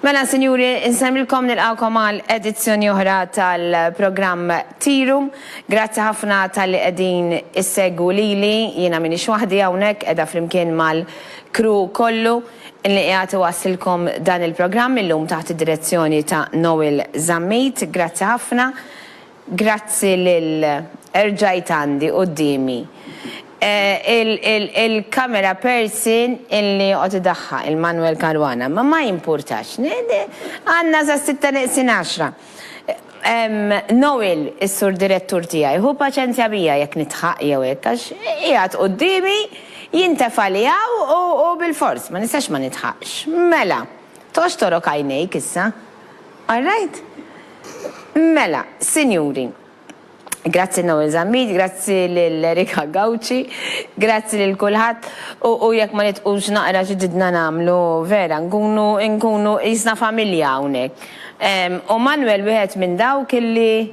Mela, sinjuri, insemmilkom nilqawkom għal edizzjoni oħra tal-programm Tiru. Grazzi ħafna tal-li qegħdin issegwu lili, jiena minix waħdi hawnhekk qiegħda flimkien mal-kru kollu li qiegħed iwassilkom dan il-programm illum taħt id-direzzjoni ta' Noel Zammit. Grazzi ħafna. Grazzi lil rġajt għandi quddiemi il-camera person illi joqgħod idaħħaq, il-Manuel Caruana, ma ma jimpurtax. Għandna sa s-sitta neqsin għaxra. Noel, is-Sur Direttur tiegħi, ħu paċenzja bija jekk nidħaq jew hekk għax qiegħed quddiemi, jintefa' li hawn u bilfors, ma nistax ma nidħaqx. Mela, toxtorok għajnejk issa. All right? Mela, sinjuri, grazzi Noel Zammit, grazzi lil Erika Gauci, grazzi lil kulħadd u jekk ma nitqux naqra xi ġidna nagħmlu vera nkunu nkunu qisna familja hawnhekk. U Manwel wieħed minn dawk illi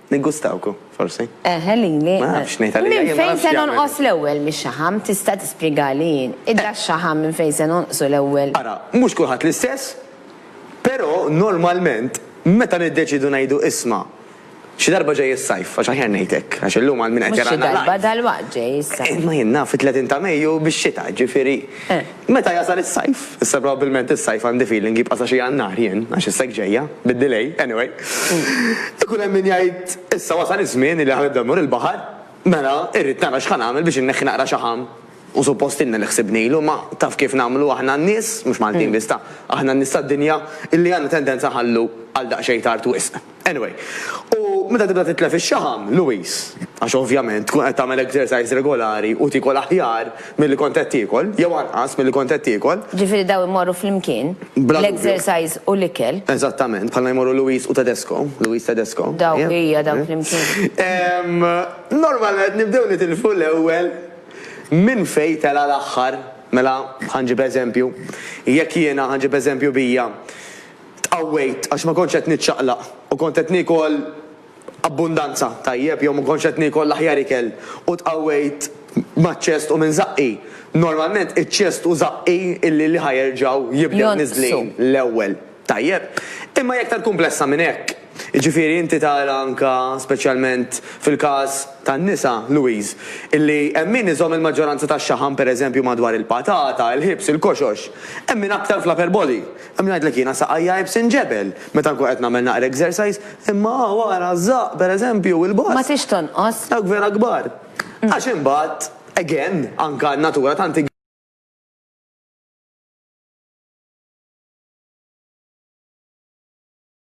Niggustawku, forsi. Eħe, lili. Ma nafx ngħid għalija, jien ma nafx jagħmel. Minn fejn se nonqos l-ewwel mix-xaħam? Tista' tispjegali jien? Idda x-xaħam minn fejn se nonqsu l-ewwel? Ara, mhux kulħadd l-istess, però normalment meta niddeċiedu ngħidu isma', xi darba ġej is-sajf, għax aħjar ngħid hekk, għax illum għal min qed jarana live. Mhux xi darba, dalwaqt ġej is-sajf. Imma jien naf it-30 ta' Mejju bix-xita, jiġifieri. Meta jasal is-sajf, issa probabbilment is-sajf għandi feeling jibqa' sa xi Jannar jien, għax is-seg ġejja, bid-delay, anyway, ikun hemm min jgħid issa wasal iż-żmien li ħa nibda mmur il-baħar, mela irrid nara x'ħa nagħmel biex inneħħi naqra xaħam u suppost ilna li ħsibnilu, ma taf kif nagħmlu aħna n-nies, mhux Maltin biss ta', aħna n-nies tad-dinja illi għandna tendenza nħallu għal daqsxejn tard wisq. Anyway, u meta tibda titlef ix-xaħam, Louise, għax ovvjament tkun qed tagħmel exercise regolari u tiekol aħjar milli kont qed tiekol, jew anqas milli kont qed tiekol. Ġifieri dawn imorru flimkien, l-exercise u l-ikel. Eżattament, bħalma jmorru Louise u Tedesco, Louise Tedesco. Daw, ija, daw flimkien. Normalment nibdew nitilfu l-ewwel minn fejn tela' l-aħħar. Mela, ħa nġib eżempju, jekk jiena, ħa nġib eżempju bija, Tqawwejt għax ma kontx qed niċċaqlaq u kont qed niekol abbundanza, tajjeb, jew ma kontx qed niekol l-aħjar ikel u tqawwejt maċ-ċest u minn żaqqi. Normalment iċ-ċest u żaqqi li li ħa jerġgħu jibdew niżlin l-ewwel, tajjeb. Imma hi aktar kumplessa minn hekk. Jiġifieri inti tara anke speċjalment fil-każ tan-nisa, Louise, illi hemm min iżomm il-maġġoranza tax-xaħam pereżempju madwar il-patata, il-ħibs, il-koxox. Hemm min aktar fl-upper body, Hemm jgħidlek jiena saqajja għajb sinġebel meta nkun qed nagħmel naqra exercise, imma hawn ara ż-żaqq pereżempju, il-boss. Ma trix tonqos. Dawk vera kbar. Għax imbagħad, again, anke n-natura tant hi.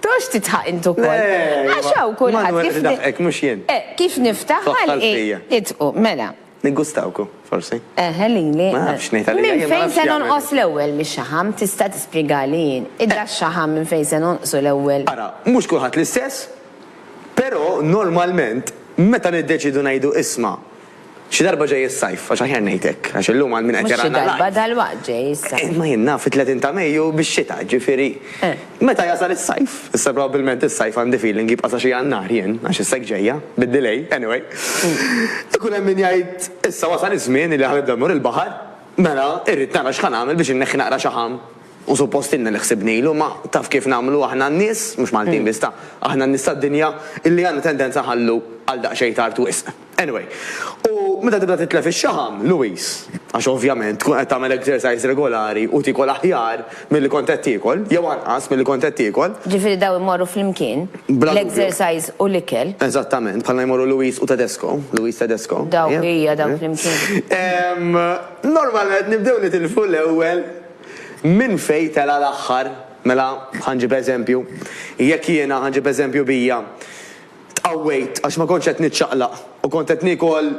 Tgħodx tidħaq int ukoll. Għax hawn kulħadd kif. Manuel idaħħqek mhux jien. Eh, kif niftaħ ħalqi idħqu, mela. Niggustawku, forsi. Eħe lili. Ma nafx ngħid għalija. Minn fejn se nonqos l-ewwel mix-xaħam? Tista' tispjegali jien. Idda x-xaħam minn fejn se nonqsu l-ewwel. Ara, mhux kulħadd l-istess, però normalment meta niddeċiedu ngħidu isma' Xi darba ġej is-sajf, għax aħjar ngħid hekk, għax illum għal min qed jarana live. Mhux xi darba, dalwaqt ġej is-sajf. Imma jien naf it-30 ta' Mejju bix-xita, ġifieri meta jasal is-sajf. Issa probabbilment is-sajf għandi feeling jibqa' sa xi Jannar jien, għax issa hekk ġejja, bid-delay, anyway. Ikun hemm min jgħid issa wasal iż-żmien li ħanibda mmur il-baħar, mela irrid nara x'ħa nagħmel biex inneħħi naqra xaħam u suppost ilna li ħsibnilu, imma taf kif nagħmlu aħna n-nies, mhux Maltin biss ta', aħna n-nies tad-dinja illi għandna tendenza nħallu għal daqsxejn tard wisq. Anyway, u meta tibda titlef ix-xaħam, Louis, għax ovvjament tkun qed tagħmel exercise regolari u tiekol aħjar milli kont qed tiekol, jew anqas milli kont qed tiekol. Ġifieri dawn imorru flimkien, l-exercise u l-ikel. Eżattament, bħalma jmorru Louis u Tedesco, Louis Tedesco. Dawk, ija, dawk flimkien. Normalment nibdew nitilfu l-ewwel minn fejn tela' l-aħħar. Mela, ħa nġib eżempju, jekk jiena, ħa nġib eżempju bija, Tqawwejt għax ma kontx qed niċċaqlaq u kont qed niekol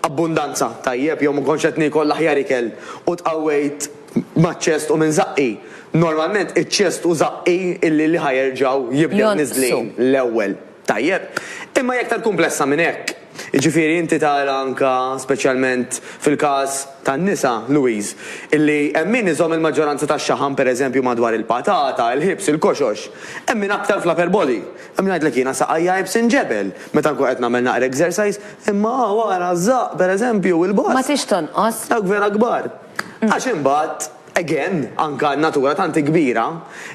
abbundanza, tajjeb, jew ma kontx qed niekol l-aħjar ikel u tqawwejt maċ-ċest u minn żaqqi. Normalment iċ-ċest u żaqqi li li ħa jerġgħu jibdew niżlin l-ewwel, tajjeb. Imma hi aktar kumplessa minn hekk. Jiġifieri inti tara anke speċjalment fil-każ tan-nisa, Louise, illi hemm min iżomm il-maġġoranza tax-xaħam pereżempju madwar il-patata, il-ħibs, il-koxox. Hemm min aktar fl-upper body. Hemm jgħidlek jiena saqajja ibsin l-ġebel meta nkun qed nagħmel naqra exercise, imma hawn ara ż-żaqq pereżempju u l-bosq. Ma trix tonqos. Dawk vera kbar. Għax imbagħad, again, anke n-natura tant hi kbira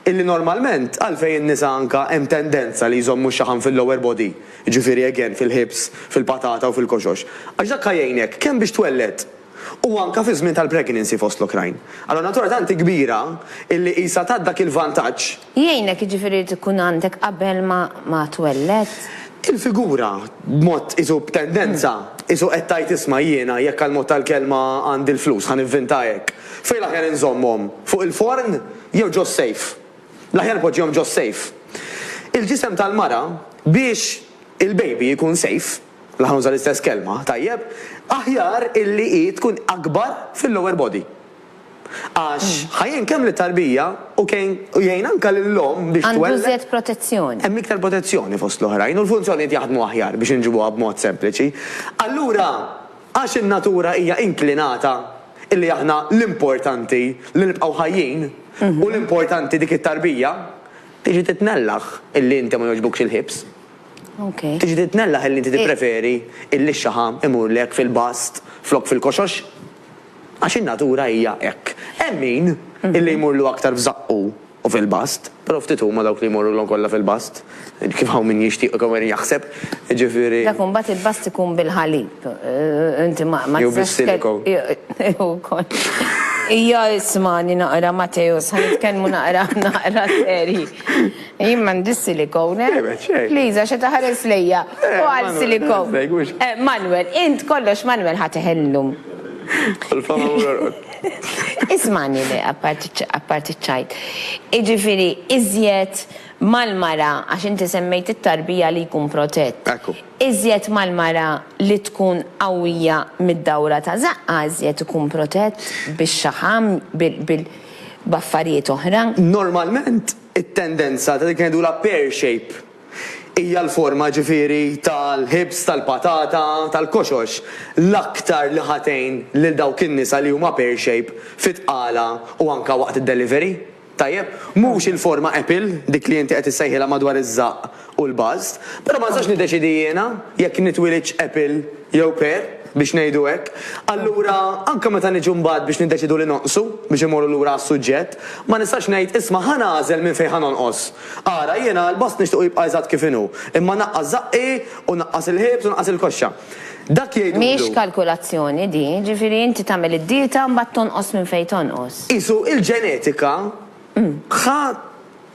illi normalment għalfejn in-nisa anke hemm tendenza li jżommu x-xaħam fil-lower body, jiġifieri again fil-hips, fil-patata u fil-koxox. Għax dak ħa jgħinek kemm biex twelled u anke fiż-żmien tal-pregnancy fost l-oħrajn. Allura n-natura tant hi kbira illi qisha tat dak il-vantaġġ. Jgħinek, jiġifieri jrid ikun għandek qabel ma twelled? Il-figura, b'mod qisu b'tendenza, qisu qed tgħid isma' jiena jekk għall-mod tal-kelma għandi l-flus ħa nivvinta hekk. Fejn l-aħjar inżommhom? Fuq il-forn jew ġo s-sejf? L-aħjar poġġihom ġo s-sejf. Il-ġisem tal-mara biex il-baby jkun sejf, la ħa nuża l-istess kelma, tajjeb, aħjar illi hi tkun akbar fil-lower body. Għax, ħa jgħin kemm lit-tarbija u kejn u jgħin anke lill-omm biex twelled. Għandu iżjed protezzjoni. Hemm iktar protezzjoni fost l-oħrajn u l-funzjonijiet jaħdmu aħjar, biex inġibuha b'mod sempliċi. Allura, għax in-natura hija inklinata illi aħna l-importanti li nibqgħu ħajjin u l-importanti dik it-tarbija, tiġi titnellaħ illi inti ma jogħġbukx il-ħibs. Ok. Tiġi titnellaħ illi inti tippreferi illi x-xaħam imurlek fil-bast flok fil-koxox. Għax in-natura hija hekk. Hemm min, illi jmurlu aktar f'żaqqu u fil-bast, però ftit huma dawk li jmorrulhom kollha fil-bast, kif hawn min jixtieq u kemm hawn min jaħseb, jiġifieri. Dak imbagħad il-bast ikun bil-ħalib, inti ma tistgħex. Jew bis-siliko. Jew ukoll. Ija ismagħni naqra Matteus, ħa nitkellmu naqra naqra serji. Jien m'għandi s-siliko hawnhekk. Please, għax qed iħares lejja. U għal siliko. Manwel, int kollox Manwel ħa teħel illum. Il-fama mhux jorqod. Ismagħni le, apparti ċ-ċajt. Jiġifieri iżjed mal-mara, għax inti semmejt it-tarbija li jkun protett. Ekku. Iżjed mal-mara li tkun qawwija mid-dawra ta' żaqqha iżjed ikun protett bix-xaħam, b'affarijiet oħra. Normalment it-tendenza ta' dik li ngħidulha pear shape Hija l-forma, ġifieri, tal-ħibż, tal-patata, tal-koxox l-aktar li ħa tgħin lil dawk in-nisa li huma pear shape fit-tqala u anke waqt id-delivery. Tajjeb? Mhux il-forma apple, dik li inti qed issejħilha madwar iż-żaqq u l-bust. Però ma nistax niddeċiedi jiena jekk nitwilidx apple jew pear, biex ngħidu hekk. Allura, anke meta niġu mbagħad biex niddeċiedu li nonqsu, biex immorru lura għas-suġġett, ma nistax ngħid, isma' ħa nagħżel minn fejn ħa nonqos. Ara, jiena għall-bost nixtiequ jibqa' eżatt kif inhu, imma naqqas żaqqi u naqqas il-ħiebs u naqqas il-koxxa. Dak jgħidulu. Mhix kalkulazzjoni din, jiġifieri inti tagħmel id-dieta u mbagħad tonqos minn fejn tonqos. Qisu il-ġenetika ħa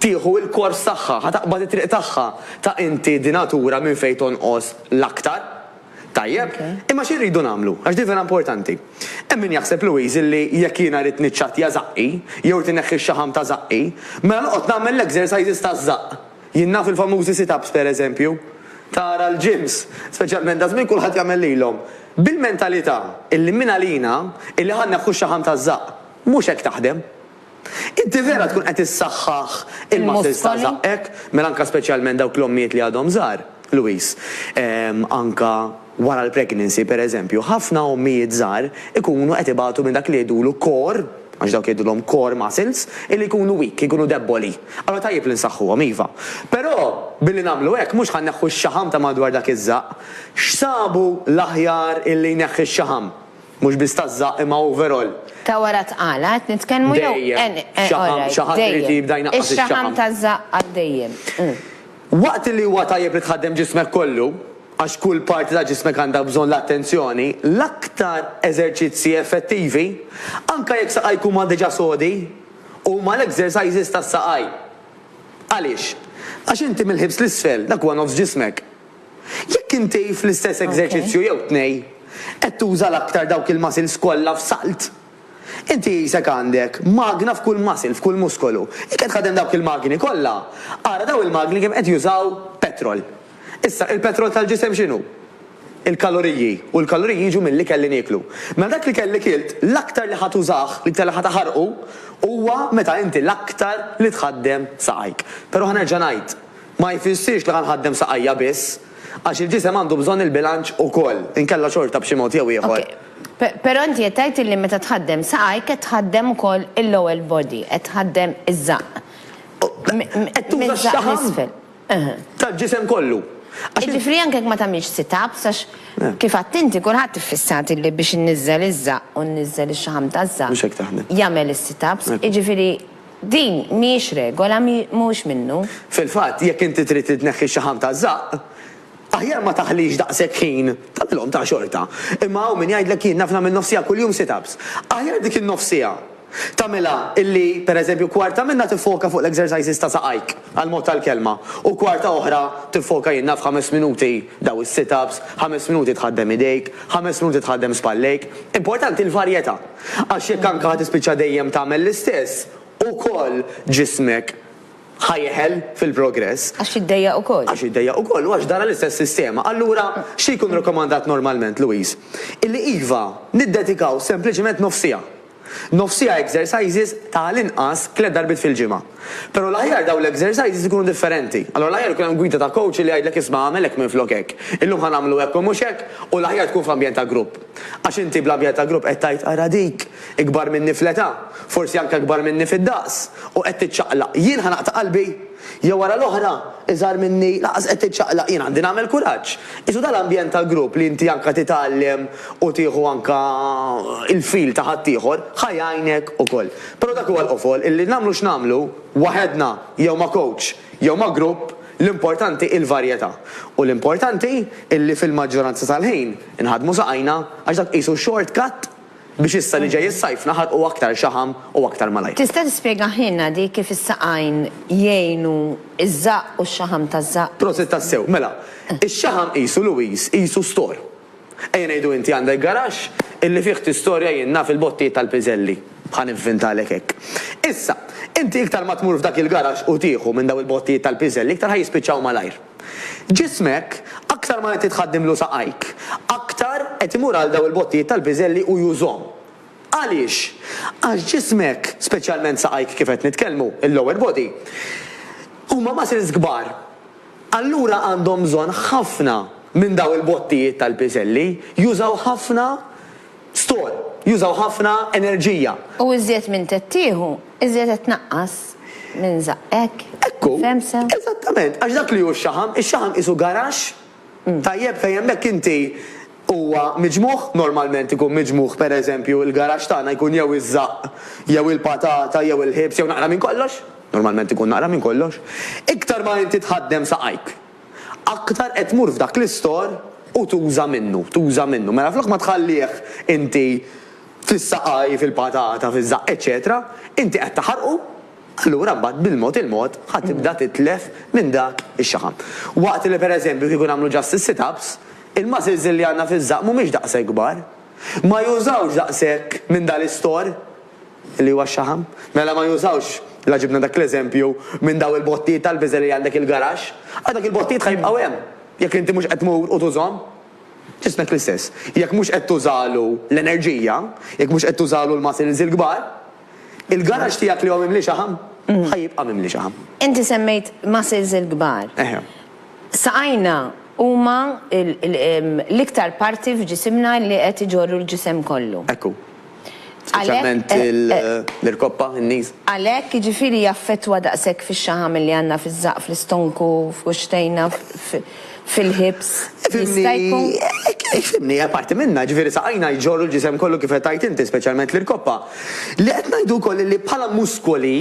tieħu l-kors tagħha, ħa taqbad it-triq tagħha ta' inti di natura minn fejn tonqos l-aktar. Tajjeb, imma xi rridu nagħmlu? Għax din vera importanti. Hemm min jaħseb, Louise, illi jekk jiena rrid niċċattja żaqqi, jew irid inneħħi x-xaħam ta' żaqqi, mela noqgħod nagħmel l-exercises taż-żaqq. Jien naf il-famużi sit-ups, pereżempju. Tara l-gyms, speċjalment daż-żmien kulħadd jagħmel lilhom. Bil-mentalità illi mingħalina illi ħa nneħħu x-xaħam taż-żaqq. Mhux hekk taħdem. Inti vera tkun qed issaħħaħ il-muscles ta' żaqqek, mela anke speċjalment dawk l-ommijiet li għadhom żgħar, Louise. Anke wara l-pregnancy, pereżempju, ħafna ommijiet żgħar ikunu qed ibatu minn dak li jgħidulu core, għax dawk jgħidulhom core muscles, illi jkunu weak, jkunu debboli. Allura tajjeb li nsaħħuhom, iva. Però, billi nagħmlu hekk, mhux ħa nneħħu x-xaħam ta' madwar dak iż-żaqq. X'sabu l-aħjar illi jneħħi x-xaħam? Mhux biss taż-żaqq imma overall. Ta' wara t-tqala qed nitkellmu jew. Dejjem. Xaħam, xi ħadd irid jibda jnaqqas ix-xaħam. Ix-xaħam taż-żaqq għal dejjem. Waqt li huwa tajjeb li tħaddem ġismek kollu, għax kull parti ta' ġismek għandha bżonn l-attenzjoni, l-aktar eżerċizzji effettivi, anke jekk saqajk huma diġà sodi, huma l-exercises tas-saqaj. Għaliex? Għax inti mill-ħibs 'l isfel, dak huwa nofs ġismek. Jekk inti fl-istess eżerċizzju jew tnej qed tuża l-aktar dawk il-muscles kollha f'salt, inti qisek għandek magna f'kull muscle, f'kull muskolu. Jekk qed tħaddem dawk il-magni kollha, ara dawn il-magni kemm qed jużaw petrol. Issa, il-petrol tal-ġisem x'inhu? Il-kaloriji, u l-kaloriji jiġu mill-ikel li nieklu. Mela dak l-ikel li kilt, l-aktar li ħa tużah, l-iktar li ħa taħarqu, huwa meta inti l-aktar li tħaddem saqajk. Però ħa nerġa' ngħid, Ma jfissirx li ħa nħaddem saqajja biss, għax il-ġisem għandu bżonn il-bilanċ ukoll, inkella xorta b'xi mod jew ieħor. Okej. Però inti qed tgħid illi meta tħaddem saqajk qed tħaddem ukoll il-lower body, qed tħaddem iż-żaqq. Qed tuża x-xaħam tal-ġisem kollu. Jiġifieri anke jekk ma tagħmilx sit-ups, għax kif għedt inti kulħadd iffissat illi biex inniżżel iż-żaqq u nniżżel ix-xaħam taż-żaqq jagħmel is-sit-ups, jiġifieri. Din mhijiex regola, mhuwiex minnu. Fil-fatt, jekk inti trid itneħħi x-xaħam taż-żaqq, aħjar ma taħlix daqshekk ħin, tagħmilhom ta' xorta. Imma hawn min jgħidlek jien naf nagħmel nofs siegħa kuljum sit-ups. Aħjar dik in-nofs siegħa tagħmilha illi, per eżempju, kwarta minnha tiffoka fuq l-exercises ta' saqajk, għall-mod tal-kelma, u kwarta oħra tiffoka jien naf ħames minuti daw is-sit-ups, ħames minuti tħaddem idejk, ħames minuti tħaddem spallejk. Importanti l-varjetà. Għax jekk anke ħa tispiċċa dejjem tagħmel l-istess, ukoll ġismek ħa jeħel fil-progress. Għax jiddejjaq ukoll. Għax jiddejjaq ukoll u għax dara l-istess sistema. Allura, xi jkun rakkomandat normalment, Louise? Illi iva, niddedikaw sempliċement nofsiegħa. Nofsiegħa exercises ta' għall-inqas tliet darbiet fil-ġimgħa. Però l-aħjar dawn l-exercises ikunu differenti. Allura l-aħjar ikun hemm gwida ta' coach li jgħidlek isma' agħmel hekk minflok hekk. Illum ħa nagħmlu hekk u mhux hekk u l-aħjar tkun f'ambjent ta' grupp. Għax inti bl-ambjent ta' grupp qed tgħid ara dik, ikbar minni fl-età, forsi anke ikbar minni fid-daqs, u qed tiċċaqlaq. Jien ħa naqta' qalbi? Jew ara l-oħra, iżgħar minni, lanqas qed tiċċaqlaq, jien għandi nagħmel kuraġġ. Qisu dan l-ambjent ta' grupp li inti anke titgħallem u tieħu anke il-feel ta' ħaddieħor, ħa jgħinek ukoll. Però dak huwa l-qofol illi nagħmlu x'nagħmlu, waħedna jew ma' kowċ jew ma' grupp, l-importanti hi l-varjetà. U l-importanti illi fil-maġġoranza tal-ħin inħaddmu saqajna għax dak qisu short cut biex issa li ġej is-sajf naħarqu aktar xaħam u aktar malajr. Tista' tispjegahielna di kif is-saqajn jgħinu ż-żaqq u x-xaħam taż-żaqq? Prosit tassew. Mela, ix-xaħam qisu Louise, qisu store. Ejja ngħidu inti għandek garaxx illi fih tistorja jien naf il-bottijiet tal-piżelli. Ħa nivvintalek hekk. Issa, inti iktar ma tmur f'dak il-garaxx u tieħu minn dawn il-bottijiet tal-piżelli iktar ħa jispiċċaw malajr. Ġismek, aktar ma inti tħaddimlu saqajk, aktar qed imur għal dawn il-bottijiet tal-piżelli u jużhom. Għaliex? Għax ġismek, speċjalment saqajk kif qed nitkellmu, il-lower body, huma muscles kbar. Allura għandhom bżonn ħafna minn dawn il-bottijiet tal-piżelli, jużaw ħafna store, jużaw ħafna enerġija. U iżjed minn qed tieħu, iżjed qed tnaqqas minn żaqq, hekk? Ekku. Fehmt sew? Eżattament. Għax dak li hu x-xaħam, ix-xaħam qisu garaxx tajjeb fejn hemmhekk inti huwa miġmugħ, normalment ikun miġmugħ pereżempju il-garaxx tagħna jkun jew iż-żaqq jew il-patata jew il-ħiebs jew naqra minn kollox, normalment ikun naqra minn kollox, iktar ma inti tħaddem saqajk, aktar qed tmur f'dak l-istor u tuża minnu, tuża minnu. Mela flok ma tħallih inti fis-saqajh, fil-patata, fiż-żaqq, eċċetera, inti qed taħarqu. Allura mbagħad bil-mod il-mod ħa tibda titlef minn dak ix-xaħam. Waqt li pereżempju kieku nagħmlu just is-sit-ups, il-muscles li għandna fiż-żaqq mhumiex daqshekk kbar. Ma jużawx daqshekk minn dan l-istor li huwa x-xaħam. Mela ma jużawx, la ġibna dak l-eżempju, minn dawn il-bottijiet tal-biżel li għandek il-garaxx, għax dak il-bottijiet ħa jibqgħu hemm jekk inti mhux qed tmur u tużhom. Ġismek l-istess. Jekk mhux qed tużalu l-enerġija, jekk mhux qed tużalu l-muscles il-kbar, Il-garaġġ tiegħek li hu mimli xaħam, ħa jibqa' mimli xaħam. Inti semmejt muscles il-kbar. Eħe. Saqajna huma l-iktar parti f'ġisimna li qed iġorru l-ġisem kollu. Hekk hu. Speċjalment l-irkoppa, in-knees. Għalhekk, jiġifieri jaffettwa daqshekk fix-xaħam li għandna fiż-żaqq, fl-istonku, f'kuxxtejna, fil-ħibs jista' jkun. Ifhimni, hija parti minnha, jiġifieri saqajna jġorru l-ġisem kollu kif qed tgħid inti, speċjalment l-irkoppa. Li qed ngħidu wkoll illi bħala muskoli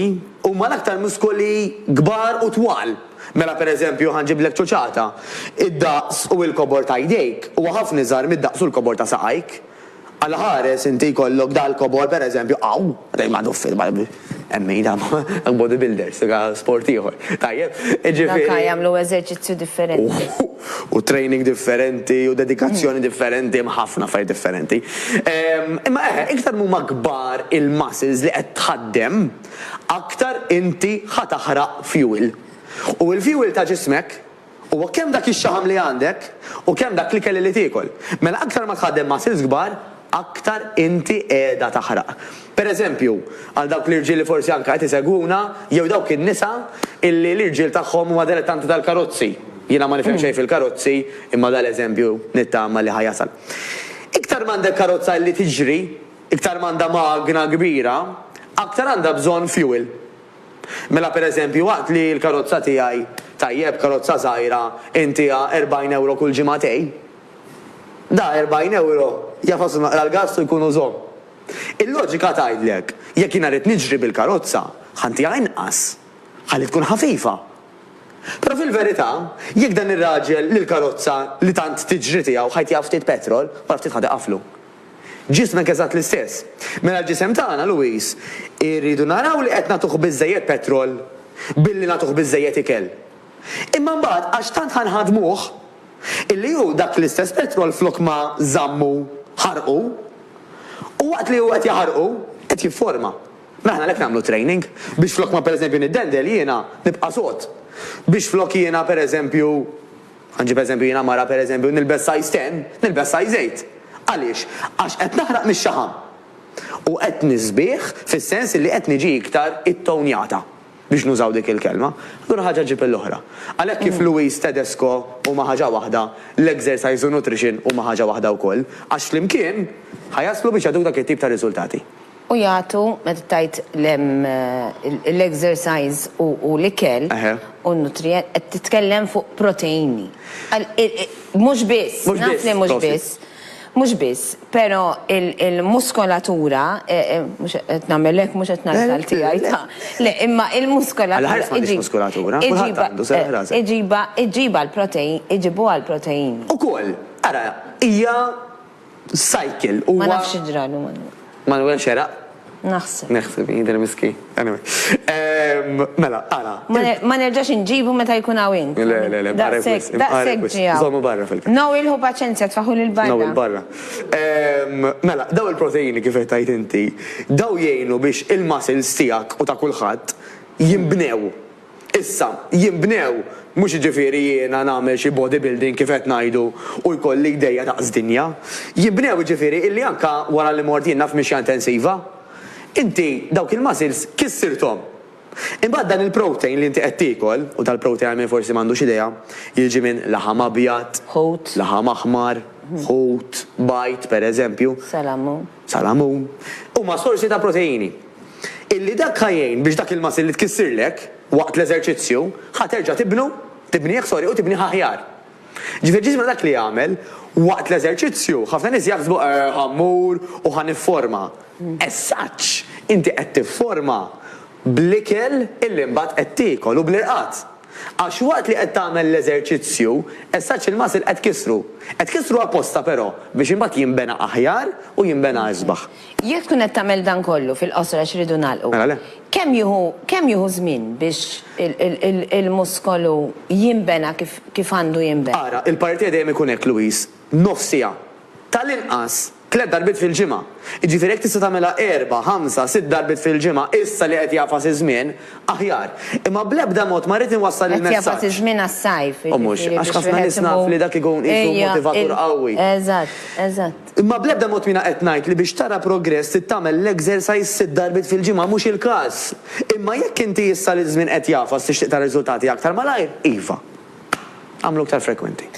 huma l-aktar muskoli kbar u twal. Mela pereżempju ħa nġiblek ċuċata, id-daqs u l-kobor ta' jdejk huwa ħafna iżgħar mid-daqs u l-kobor ta' saqajk. Għal ħares inti jkollok dal-kobor pereżempju hawn, dejjem għadu fil hemm min jagħmel body builders, dak sport ieħor. Tajjeb, jiġifieri. Dak jagħmlu eżerċizzju differenti. U training differenti u dedikazzjoni differenti, hemm ħafna affarijiet differenti. Imma eħe, iktar m'huma kbar il-muscles li qed tħaddem, aktar inti ħa taħraq fuel. U l-fuel ta' ġismek Huwa kemm dak ix-xaħam li għandek u kemm dak l-ikel li tiekol. Mela aktar ma tħaddem muscles kbar, aktar inti qiegħda taħraq. Per eżempju, għal dawk l-irġiel li forsi anke qed isegwuna, jew dawk in-nisa illi l-irġiel tagħhom huma dilettanti tal-karozzi, jiena ma nifhem xejn fil-karozzi imma dan l-eżempju nittama li ħa jasal. Iktar m'għandek karozza illi tiġri, iktar m'għandha magna kbira, aktar għandha bżonn fuel. Mela pereżempju waqt li l-karozza tiegħi, tajjeb karozza żgħira, intiha 40 ewro kull ġimagħtej, da 40 ewro jafaslu naqra l-gass u jkunu żomm. Il-loġika tgħidlek jekk jiena rrid niġri bil-karozza, ħa ntiha inqas, ħalli tkun ħafifa. Però fil-verità, jekk dan ir-raġel li l-karozza li tant tiġri tiegħu ħa jtiha ftit petrol, wara ftit ħa tiqaflu. Ġismek eżatt l-istess. Mela l-ġisem tagħna, Louis, irridu naraw li qed nagħtuh biżżejjed petrol billi nagħtuh biżżejjed ikel. Imma mbagħad għax tant ħa nħaddmuh, illi hu dak l-istess petrol flok ma żammu ħarqu, u waqt li hu qed jaħarqu, qed jifforma. Mela aħna għalhekk nagħmlu training, biex flok ma pereżempju niddendel jiena nibqa' sod. Biex flok jiena pereżempju. Ħa nġib eżempju, jiena mara pereżempju nilbes size ten, nilbes size eight. Għaliex? Għax qed naħraq mix-xaħam. U qed nisbieh fis-sens illi qed niġi iktar ittownjata, biex nużaw dik il-kelma. Allura ħaġa ġġib l-oħra. Għalhekk kif Louise Tedesco huma ħaġa waħda, l-exercise u nutrition huma ħaġa waħda wkoll, għax flimkien ħa jaslu biex jagħtuk dak it-tip ta' riżultati. U jagħtu, meta tgħid l-exercise u l-ikel u n-nutrient, qed titkellem fuq proteini. Mhux biss, naf li mhux biss, mhux biss, però l-muskolatura, mhux qed nagħmel hekk, mhux qed ngħid għal tiegħi, ta', le, imma l-muskolatura. Għal ħafna mhix muskolatura, kulħadd għandu, serraħ rasek. Iġibha, iġibha l-proteini, iġibuha l-proteini. Ukoll, ara, hija. Cycle huwa. Ma nafx xi ġralu Manwel. Manwel xeraq? Naħseb. Naħseb, jidher miskin. Anyway. Mela, ara. Ma nerġax inġibu meta jkun hawn int. Le, le, le, barra wisq. Daqshekk ġie hawn. Żommu barra fil-kaxxa. No, ilħu paċenzja, tfaħħu lil barra. No, il-barra. Mela, dawn il-proteini kif qed tgħid inti, dawn jgħinu biex il-muscles tiegħek u ta' kulħadd jinbnew. Issa, jinbnew, mhux jiġifieri jiena nagħmel xi body building kif qed ngħidu u jkolli jdejja daqs dinja. Jinbnew jiġifieri illi anke wara li mort jien naf mixja intensiva, inti dawk il-muscles kissirthom. Imbagħad dan il-protein li inti qed tiekol, u tal-protein għal min forsi m'għandux idea, jiġi minn laħam abjad, laħam aħmar, ħut, bajd, pereżempju. Salamun. salamun, huma sorsi ta' proteini. Illi dak ħa jgħin biex dak il-muscle li tkissirlek waqt l-eżerċizzju ħa terġa' tibnu, tibnieh sorry u tibnieh aħjar. Ġifieri ġismna dak li jagħmel waqt l-eżerċizzju, ħafna nies jaħsbu eh ħa mmur u ħa nifforma. As such, inti qed tifforma bl-ikel illi mbagħad qed tiekol u bl-irqad. Għax waqt li qed tagħmel l-eżerċizzju, essaċ il-muscle qed kissru. Qed kissru apposta però, biex imbagħad jinbena aħjar u jinbena isbaħ. Jekk tkun qed tagħmel dan kollu, fil-qosor għax irridu nagħlqu. Mela le. Kemm jieħu, kemm jieħu żmien biex il-muskolu jinbena kif, kif għandu jinbena? Ara, il-parretier dejjem ikun hekk, Louise. nofs siegħa, tal-inqas tliet darbiet fil-ġimgħa. Jiġifieri jekk tista' tagħmilha erba', ħamsa, sitt darbiet fil-ġimgħa issa li qed jagħfas iż-żmien, aħjar. Imma bl-ebda mod ma rrid inwassal il-messaġġ. Qed jagħfas iż-żmien għas-sajf, jiġifieri biex wieħed imur. U mhux, għax ħafna nies naf li dak ikun qisu motivatur qawwi. Ejja, eżatt, eżatt. Imma bl-ebda mod m'iena qed ngħid li biex tara progress trid tagħmel l-exercise sitt darbiet fil-ġimgħa, mhux il-każ. Imma jekk inti issa li ż-żmien qed jagħfas tixtieq tara riżultati aktar malajr, iva. Agħmlu iktar frekwenti.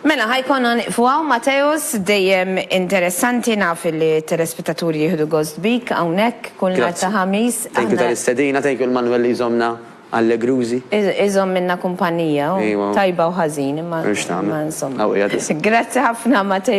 Mela ħa jkollna nieqfu hawn Mateusz, dejjem interessanti naf li t-telespettaturi jieħdu gost bik hawnhekk kull nhar ta' Ħamis. Grazzi. Thank you tal-istedina, thank you lil Manwel li jżommna allegrużi. Iżommilna kumpanija hu, tajba u ħażin imma insomma. Grazzi ħafna Mateusz.